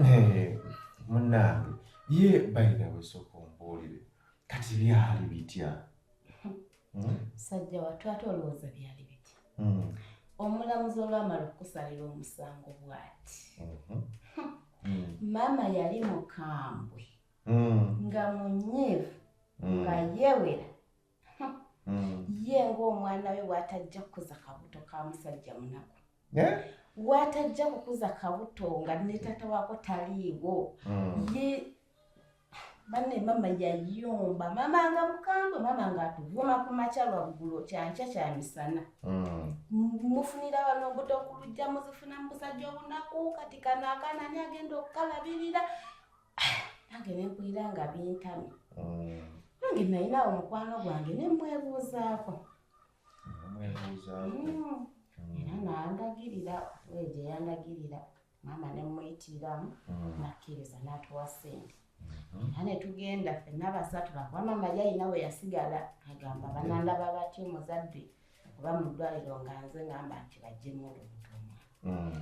Eh, munnange ye bayina wesooka ombuulire kati byali bitya hmm? sajja watu ate olowooza byali bitya hmm. omulamuzi olwamala okukusalira omusango bwati mhm. hmm. maama yali mukambwe nga munyiivu nga yewera hmm. ye ng'omwana we bw'atajja kukuza kabuto ka musajja munaku eh? bw'atajja kukuza kabuto nga ne taata waako taliiwo hmm. ye banne mama yayomba mama nga mukambwe mama nga atuvuma ku makya lwa bugulo kyankya kya misana hmm. mufunira wano mbuto okulujja muzifuna mu busajja obunaku kati kano akaana ani agenda okukalabirira nange nempulira nga bintamye mm. nange nalinawo mukwano gwange nemwebuuzaako mm. era nandagirira weje yandagirira maama nemuyitiramu mm. nakkiriza natuwa sente mm-hmm. era netugenda fenna basatu bakuba maama yalina we yasigala agamba banandaba batya omuzadde oba mu ddwaliro nga nze ngamba nti bajjemu olubutomwa mm.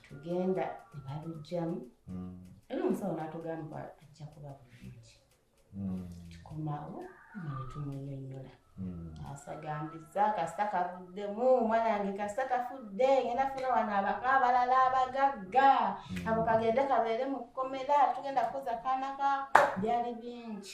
tugenda ne balujjamu mm. era omusawo n'atugamba ajja kuba bulungi mm. tukomawo nga ne tumunyonyola asagambiza kasita kavuddemu omwana wange kasita kafudde ngenda funa wano abako abalala abagagga ako kagende kabeere mu kkomera tugenda kukoza kaana kaako byali bingi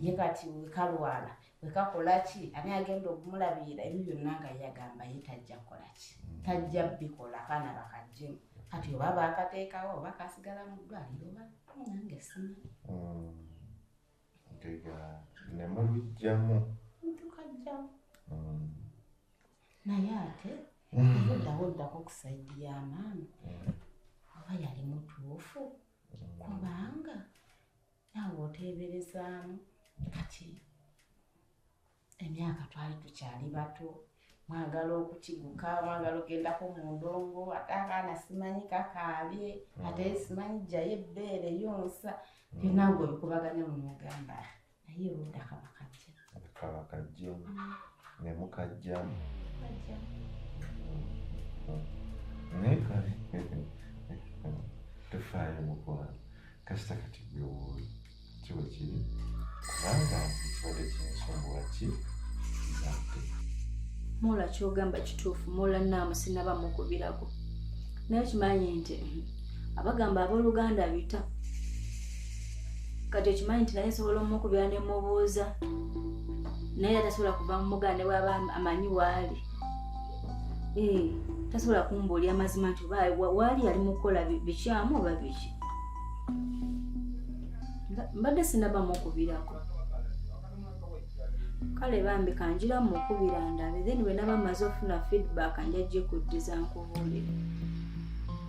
ye kati wekalwana wekakola ki ani agenda okumulabirira ebyo byonna nga yagamba ye tajja kukola ki mm. tajja bikola abaana bakajjemu kati oba bakateekawo oba kasigala mu ddwaliro oba nange sima mm. ntega ne mubijjamu tukajjamu mm. naye ate oddawo oddako ku saidi ya maama oba yali mutuufu kubanga naawe oteeberezaamu kati emyaka twali tukyali bato mwagala okukiguka mwagala ogendako mu ndongo ate akaana simanyi kakaabye mm. ate simanyi jjayo ebbeere yonsa byonna mm. nga obikubaganya mu mugamba naye oludda kabakajja kabakajja ne mukajja naye kale tofaayo mukwano kasita kati byowooyo kiwe kiri kubanga ekibadde kinsumbuwa ki kizadde mola kyogamba kituufu mola naamu sinaba mukubirako naye kimanyi nti abagamba abooluganda bita kati okimanyi nti naye nsobola omukubira ne mubuuza naye atasobola kuva mumuganda ne bwaba amanyi waali eh, tasobola kumbuulya amazima nti oba waali yali mukukola bikyamu oba biki mbadde sinaba mukubirako kale bambi kanjira mukubira ndabe then bwenaba maze ofuna feedback njajja ekuddiza nkubuulire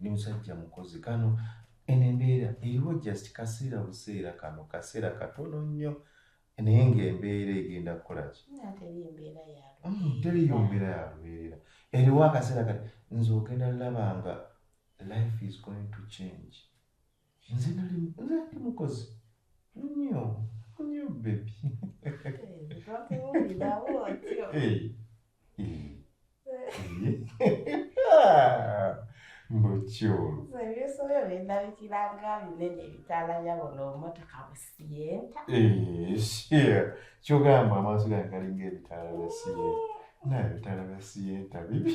Ndi musajja mukozi kano eno embeera eriwo just kaseera buseera kano kaseera katono nnyo naye ng'embeera egenda kukolaki mm, teriyo mbeera ya lubeerera eriwo akaseera kati nze ogenda laba nga life is going to change nze nali nze ndi mukozi nnyo nnyo bebi mukyolo kyogamba amaaso gange galinga ebitaala bya siyenta naye ebitaala bya siyenta bibi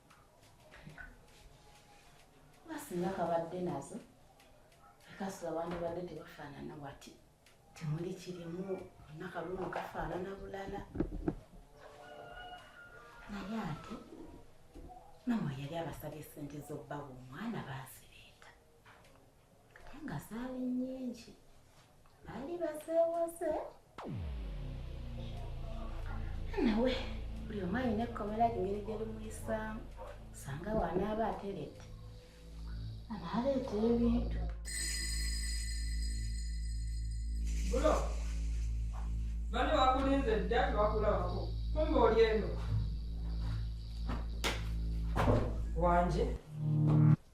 singa kabadde nazo ekasula abantu badde tebafaanana wati temuli kirimu nakalumu kafaanana bulala naye ate mama yali abasabye sente z'obbawa omwana baasi nga zaali nyingi baali bazeewoze nawe buli omu alina ekkomera engeri gye limuyisaamu osanga wanaaba ateredde anaaleeta ebintu bulo bane wakulinze dda tewakulabako kumba oli eno wanje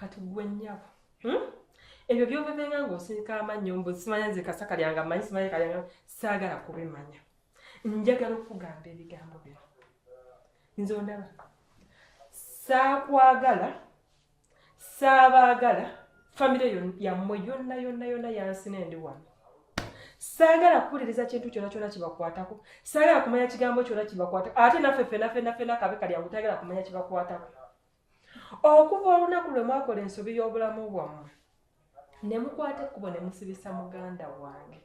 kati gwe nnyabo hmm? ebyo byobebenga ng'osirika amannyo mbu simanya nze kasaka lyanga manyi simanya kalyanga saagala kubimanya njagala okugamba ebigambo bino nze ondaba saakwagala saabaagala famire yammwe yonna yonna yonna yansina endi wano saagala kuwuliriza kintu kyona kyona kibakwatako saagala kumanya kigambo kyona kibakwatako ate naffe fenafenafena kabe kalyangu tayagala kumanya kibakwatako okuva olunaku lwe mwakola ensobi y'obulamu bwammwe ne mukwata ekkubo ne musibisa muganda wange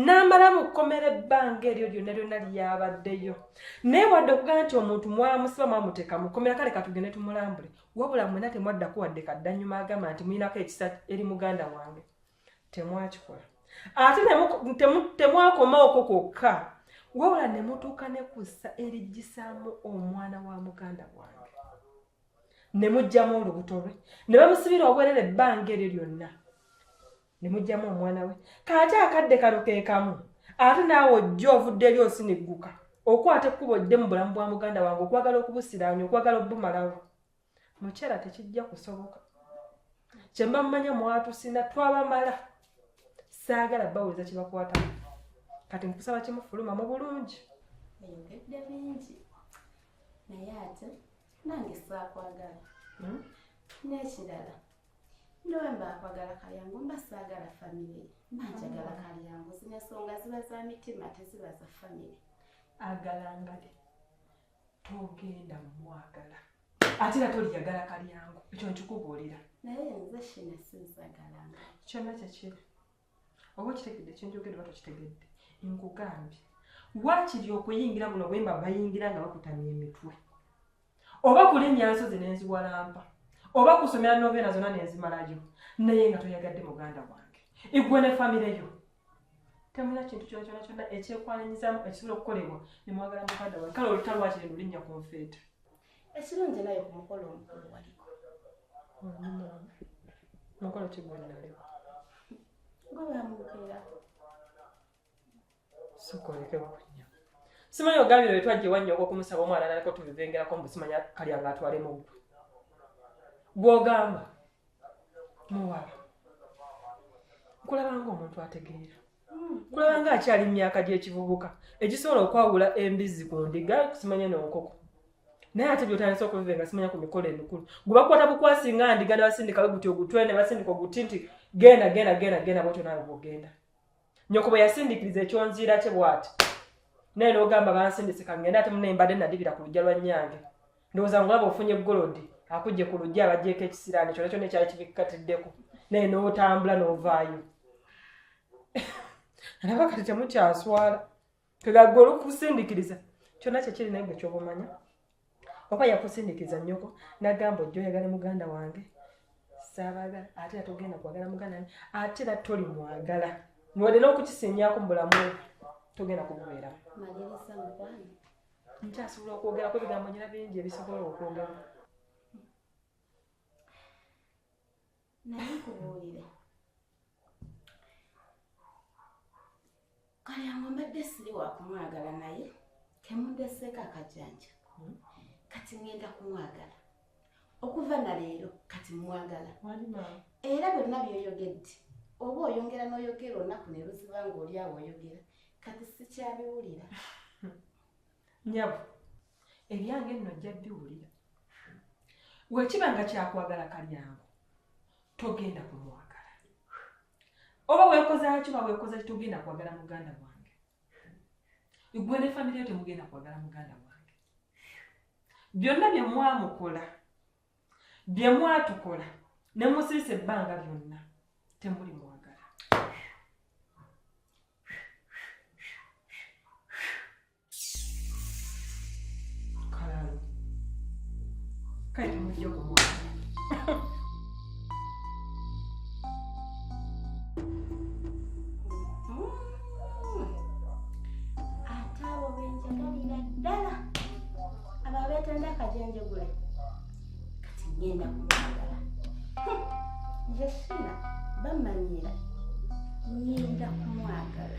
n'amala mu kkomera ebbanga eryo lyonna lyonna lyabaddeyo naye wadde okugamba nti omuntu mwamusiba mwamuteeka mu kkomera kale katugende tumulambule wabula mwena temwaddako wadde kaddanyuma agamba nti mulinako ekisa eri muganda wange temwakikola ate temwakoma okwo kwokka wabula ne mutuuka ne kussa eriggisaamu omwana wa muganda wange ne mugyamu olubuto lwe ne bamusibira obwerere ebbanga eryo lyonna ne mugyamu omwana we kaate akadde kano ke kamu ate naawe ojja ovudde eri osinigguka okwata ekkubo ddemu bulamu bwa muganda wange okwagala okubusiraanya okwagala obumalawo mukyala tekijja kusoboka kyemba mumanya mwatusina twabamala saagala bawuliza kyebakwata kati nkusaba kimufuluma mu bulungi eyogedde bingi naye ate nange saakwagala hmm? n'ekirala nowemba akwagala kalyangu mba saagala famire mba njagala hmm. kalyangu zino ensonga ziba za mitima teziba za famire agalangale togenda mwagala ate era toliyagala kalyangu ekyo nkikubuulira naye nze shina sizagalanga kyonna kyekiri oba okitegedde kyenjogedde oba tokitegedde nkugambye wakiri okuyingira buno bwemba bayingira nga bakutamya emitwe oba kulinnya nsozi nenziwalampa oba kusomera noveena zonna nenzimalayo naye nga toyagadde muganda wange igwe ne famire yo temulina kintu kyona kyona kyona ekyekwananyizamu ekisobola okukolebwa nemwagala mukada wae kale oluta lwaki lino linnya ku nfeeta ekirungi naye ku mukolo omukulu waliko mukolo kigwenali gwebamukeera sukolekewanya simanyi ogambira wetwajje wannyo okwokumusaba omwana naliko tubivengerako mbusimanya kalya nga atwalemu gwe gwogamba muwala nkulabanga omuntu ategeera kulabanga akyali mu myaka gy'ekivubuka egisobola okwawula embizzi ku ndiga simanya n'enkoko naye ate byotandisa okubive nga simanya ku mikolo emikulu gwe bakwata bukwasi nga ndiga ne basindika we guti ogutwe ne basindika oguti nti genda genda genda genda bwotyo naawe bwogenda nyoko bwe yasindikiriza ekyonziira kye bwati naye n'ogamba bansindise kangenda ate mune mbadde nadibira ku lujja lwa nnyange ndowooza ngulaba ofunye golodi akujje ku lujja abagyeko ekisiraani kyona kyona ekyali kibikatiddeko naye n'otambula n'ovaayo alaba kati temukyaswala kegagwe olukusindikiriza kyona kyekiri naye gwe kyoba omanya oba yakusindikiriza nyoko nagamba ojja oyagala muganda wange saabagala ate era togenda kwagala muganda wange ate era toli mwagala niwadde n'okukisinyaako mu bulamu togenda kububeeramu nkyasobola okwogerako ebigambo nyina bingi ebisobola okwogera naye kubuulira kalyango mbadde siri wakumwagala naye kemundesseeko akajanja hmm? kati ngenda kumwagala okuva na leero kati mwagala era byonna byoyogedde oba oyongera n'oyogera olunaku ne luziba ng'oli awo oyogera kati sikyabiwulira nyabo ebyange nno ojja biwulira wekiba nga kyakwagala kalyango togenda kumwagala oba wekozaki oba wekozaki togenda kwagala muganda wange igwe ne famire yo temugenda kwagala muganda wange byonna byemwamukola bye mwatukola ne musirisa ebbanga lyonna temuli mwagala kalalu kale temujja kumwagala abo abeetenda akajenjegule kati ngenda kumwagala yesina bamanyira ngenda kumwagala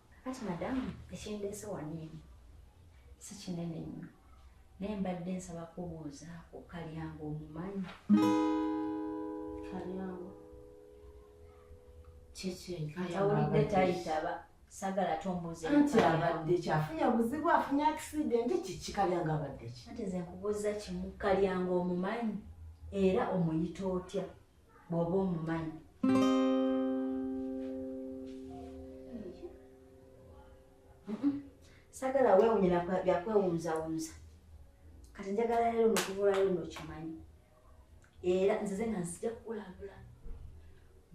Kati madamu ekindeese wano eno si kinene nnyo naye mbadde nsaba kubuuza ku kalyango omumanyi kalyango kyekyeawulidde tayitaba sagala tombuuza nti abadde kyafunye obuzibu afunye akisidenti kiki kalyango abadde ki ati ze nkubuuza kimu kalyango omumanyi era omuyita otya bw'oba omumanyi sagala weewunyira byakwewunzawunza kati njagala leero nokuvulayo nokimanyi era nzize nga nzija kukulabula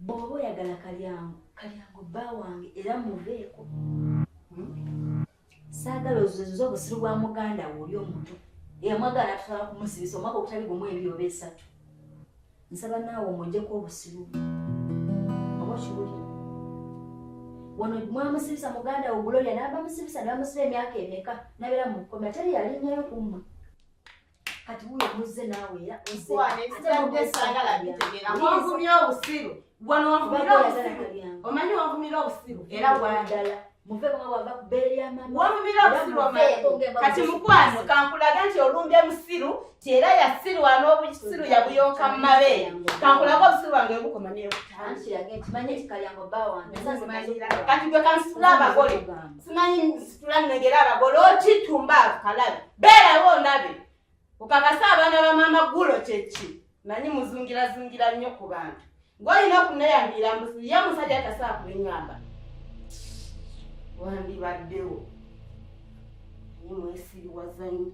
bw'oba oyagala kalyango kalyango bba wange era muveeko hmm? saagala ozuze obusiru bwa muganda wo oli omuntu eyamwagala atusobola kumusibisa omwaka ogutali gumu ebiri oba esatu nsaba naawe omwejeko obusiru oba okiwulira wano mwamusibisa muganda wo guloya n'abamusibisa nebamusiba emyaka emeka nabeera mu kkomera teri yalinyayo kummwe kati wuyo muzze naawe era ozewagumya obusiru wano wavumira obusiru omanyi wavumira obusiru era wadala wavumira obusiru omanyi kati mukwano kankulage nti olumbye musiru ti era yasirwa n'obusiru yabuyonka mu mabeere kankulage obusiru bwange webukoma newutakati gwe kansitula abagole simanyi nsitula nnegera abagole okitumba kalabi beerawo ondabe okakase abaana ba maama gulo kyeki manyi muzungirazungira nnyo ku bantu ng'olina okuneyambira mbuzi ye musajja atasaa kuliŋamba wandibaddewo naye mwesiriwazanyo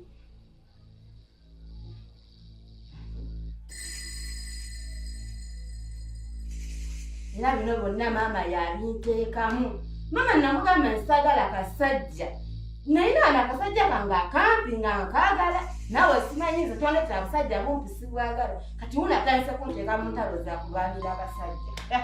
era bino bonna maama yabinteekamu maama namugamba nsagala kasajja naye naana akasajja kange akampi nga nkaagala nawe simanyi nze twandeta abasajja bumpi sibwagala kati wuna atandise kunteeka mu ntalo za kulwanira abasajja eh.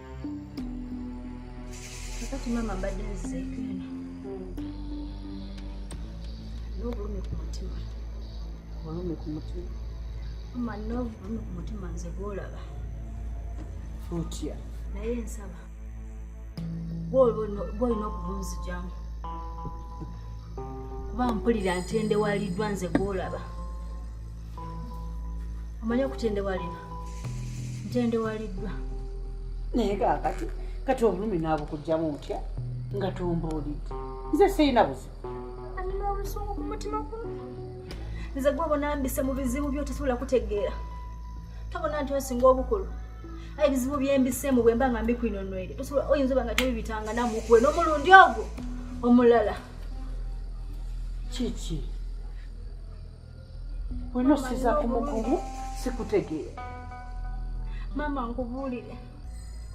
kakati maama mbadde nzeeko eno n'obulumi ku mutima obulumi ku mutima mama n'obulumi ku mutima nze gwolaba otya naye nsaba gwolina okubunzijamu kuba mpulira ntendewaliddwa nze gwolaba omanyi okutendewalira ntendewaliddwa naye kakati kati obulumi naabukugjamu ntya nga tumbuulidde nze sirina buzibu alina obusungu ku mutima gwa nze gwe obonambise mu bizibu byo tosobola kutegeera tobona nti osinga obukulu aye ebizibu byembisemu bwemba nga mbikwinonwere tosobola oyinza oba nga tebibitanga namukuwe n'omulundi ogwo omulala kiki Wino siza kumukumu sikutegeera. Mama nkubuulire.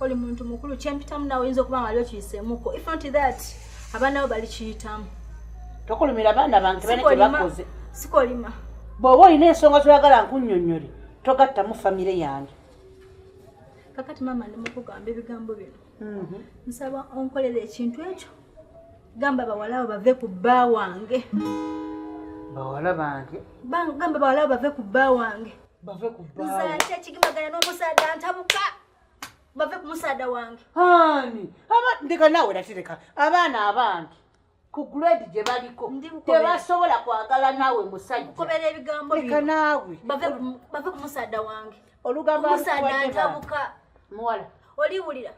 Oli muntu mukulu kyempitamu nawe oyinza okuba nga wali okiyiseemuko. If not that, abaana bo bali kiyitamu. Tokolumira abaana bange bane kye bakoze. Sikolima. Bw'oba olina ensonga zoyagala nkunnyonnyole togattamu famire yange. Kakati mama ndi mukugamba ebigambo bino. Mhm. Nsaba onkolera ekintu ekyo. gamba bawalawo bave ku bba wange bawala bange gamba bawalawo bave ku bba wange bave ku bba nze ate ekigimagana n'omusaadha ntabuka bave ku musaada wange ani ndeka naawe natereka abaana abange ku grade gye baliko tebasobola kwagala naawe musajjakobera ebigambo leka naawe bave ku musaada wange olugambo musaada ntabuka muwala oliwulira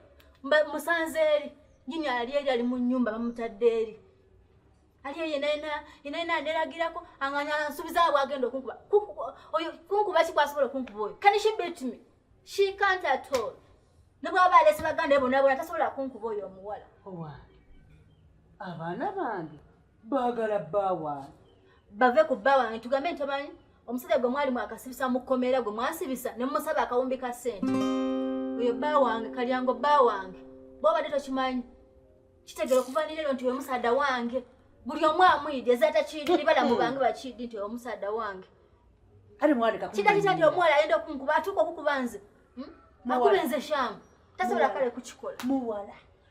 musanze eri Jini ali eri ali mu nyumba bamutadde eri. Ali eri naye na ina ina nderagirako anganya nsubiza awo agenda okunkuba. Oyo kunkuba si kwasobola okunkuba oyo. Can she beat me? She can't at all. Ne bwaba alese baganda ebona bona tasobola kunkuba oyo omuwala. Owa. Abana bange. baagala bba wange bave ku bba wange tugambe nti omanyi omusajja gwe mwali mwakasibisa mu kkomera gwe mwasibisa ne mumusaba akawumbi ka ssente oyo bba wange kalyango bba wange bwobadde tokimanyi kitegera okuva nirero nti wemusaada wange buli omu amuyidi ezatakidi nibala mu bange bakidi nti omusaada wange kidakita nti omuwala ayenda okunkuba atuuka okukuba nze hmm? akuba nze shamu tasobola kale kukikola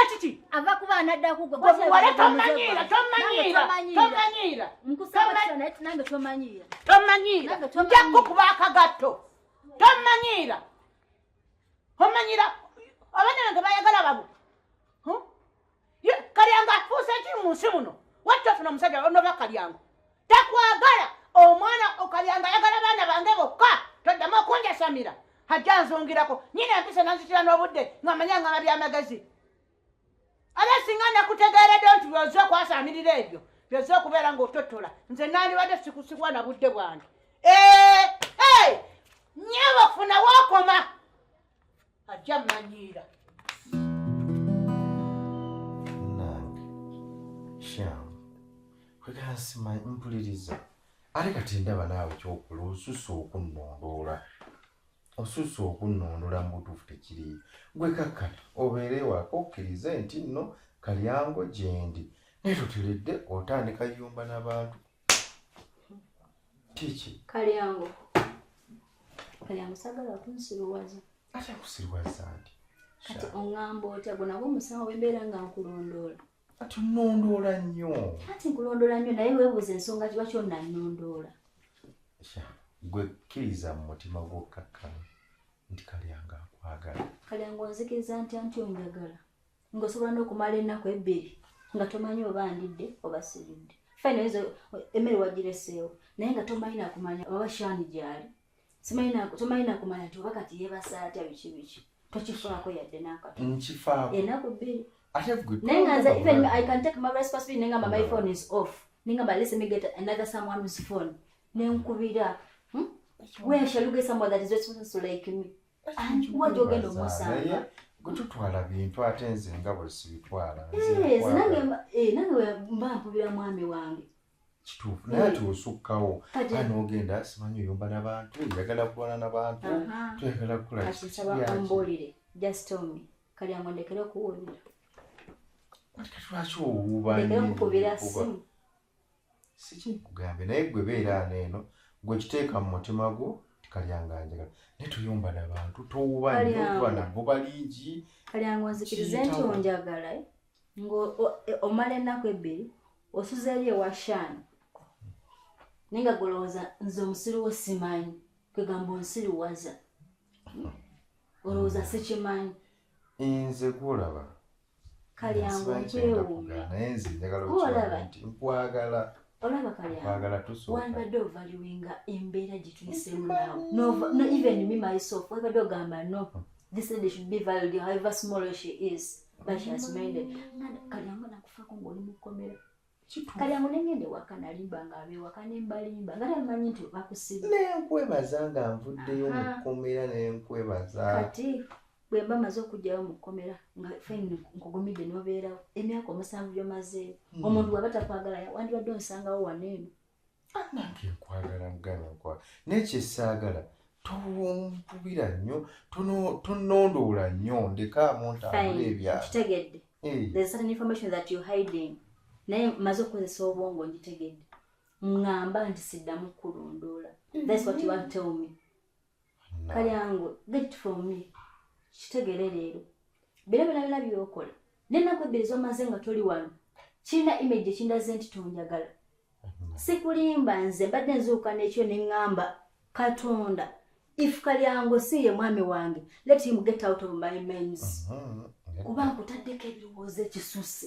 Ekiki ava kuba anadda kugwe wale tomanyiira tomanyiira tomanyiira nkusaba sana eti nange tomanyiira tomanyiira nja kukuba akagatto tomanyiira omanyiira abaana bange bayagala babu kalyango afuuse ki mu nsi muno wajja ofuna omusajja onoba kalyango takwagala omwana okalyanga ayagala baana bange bokka toddamu okunjasamira hajja nzungirako nyina empisa nanzitira n'obudde ngamanya ngama byamagezi aba singa nakutegeeredde nti byoze okwasaamirira ebyo byoze okubeera ng'ototola nze nandibadde sikusikwa na budde bwange nyabo funa wakoma ajja manyiira nange sham kwegala simanyi mpuliriza ate kati ndaba naawe kyokula osusa okunnondoola osusa okunnondoola mu butuufu tekiri gwe kakkana obeere waka okkirize nti nno kalyango gyendi naye toteredde otandika yumba n'abantu kiki kalyango kalyango sagala kunsiruwaza ate kusiriwaza ndi kati ongamba otya gwe nagwo omusango wembeera nga nkulondoola kati onondoola nnyo kati nkulondoola nnyo naye webuuza ensonga kiba kyonna nnondoola gwe kkiriza mu mutima gwokkakkana nti kalyango akwagala kalyango onzikiriza ntya nti onjagala ngaosobola n'okumala ennaku ebbiri nga tomanyi oba ndidde oba siridde fine oyinza emmere wagireseewo naye nga tomanyi nakumanya oba shaani gyali tomanyi nakumanya nti oba kati yebasa atya biki biki tokifaako yadde nakatonkifaaku ennaku bbiri naye nga nze even i can take my responsibility naye ngamba my phone is off naye ngamba lese me get another someone whose phone nenkubira hmm? where shall you get someone that is responsible like me gututwala bintu ate nze nga bwe sibitwala eh, nange eh, mba mpubira mwami wange kituufu naye ati osukkawo ana ogenda simanyi oyomba nabantu oyagala kukola nabantu toyagala kukolaambulire just tell me kali amondekere okuwulira lwaki owuuba sikinkugambye naye gwe beera ano eno gwe kiteeka mu mutima gwo tikalyanga njagala naye tuyomba nabantu towuba nyo tuba nabo balingi kalyanga onzikirize nti onjagala eh? ngo e, omala ennaku ebbiri osuzeeyo ewa shaani naye nga golowooza nze omusiru wo simanyi kwegamba onsiruwaza olowooza sikimanyi nze gwolaba kalyango nkwewuunya olaba nkwagala olaba kalyango wandibadde ovaliwinga embeera gye tuyisemu naawe no even me myself wabadde ogamba no this lady should be valued however small she is but she has made it kalyango nakufako ngaoli mu kkomera kale awo nengenda ewaka nalimba nga abewaka nembalimba nga tamanyi nti bakusiba nenkwebaza nga nvuddeyo mu kkomera nenkwebaza kati bwe mba maze okugyayo mu kkomera nga feni nkugumidde nobeerawo emyaka omusanvu gyomazeeyo hmm. omuntu waba takwagala wandibadde onsangawo wano eno anange nkwagala muganda nkwagala naye kyesaagala tonkubira nnyo tonondoola nnyo ndeka muntambula ebyakitegedde naye maze okukozesa obwongo ngitegedde ŋŋamba nti siddamu kulondoola that's what you want tell me kalyango get it from me kitegere leero bira bira bira byokola nenaku ebbiri zomaze nga toli wano kirina image ekindaze nti tonjagala sikulimba nze mbadde nzuuka nekyo neŋŋamba katonda if kalyango si ye mwami wange let him get out of my mens mhm, kuba nkutaddeko ebirowoozo ekisusse